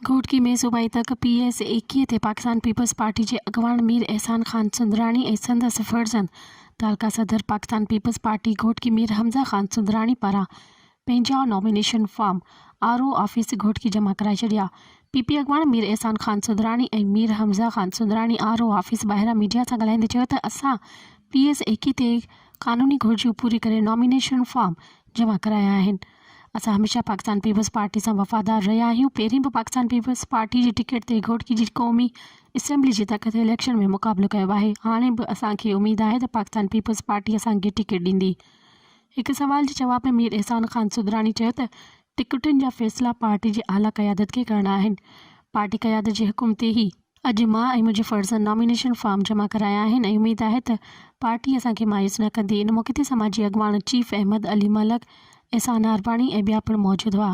گهوٽڪي ۾ صوبائي تڪ P S ايڪيهه تي پاڪستان پيپلز پارٽي جي اڳواڻ مير احسان خان سندراڻي ۽ سندس فرزند تعلقه صدر پاڪستان پيپلز پارٽي گهوٽڪي مير حمزه خان سندراڻي پاران پنهنجا nomination form R O office Ghotki جمع ڪرائي ڇڏيا. پي پي اڳواڻ Mir Ahsan Khan Sundrani ۽ Mir Hamza Khan Sundrani R O office ٻاهران ميڊيا سان ڳالهائيندي چيو ته اسان پي ايس ايڪي تي قانوني گهرجون پوري ڪري نامينيشن فارم جمع ڪرايا آهن اسان هميشه پاڪستان پيپلز پارٽي سان وفادار رهيا آهيون پهرين به پاڪستان پيپلز پارٽي جي ٽڪيٽ تي گهوٽڪي جي قومي اسيمبلي جي تڪ تي اليڪشن ۾ مقابلو ڪيو آهي هاڻي به اسان کي اميد آهي ته پاڪستان پيپلز پارٽي اسان کي ٽڪيٽ ڏيندي هڪ سوال جي جواب ۾ مير احسان خان سدراڻي چيو ته ٽڪيٽن جا فيصلا پارٽي جي اعليٰ قيادت کي ڪرڻا آهن، پارٽي قيادت جي حڪم تي ئي اڄ مان ۽ منهنجي فرزند نامينيشن فارم جمع ڪرايا آهن ۽ اميد آهي ته پارٽي اسان کي مايوس نه ڪندي. ان موقعي تي سماجي اڳواڻ چيف احمد علي ملڪ، احسان عارباڻي ۽ ٻيا پڻ موجود هئا.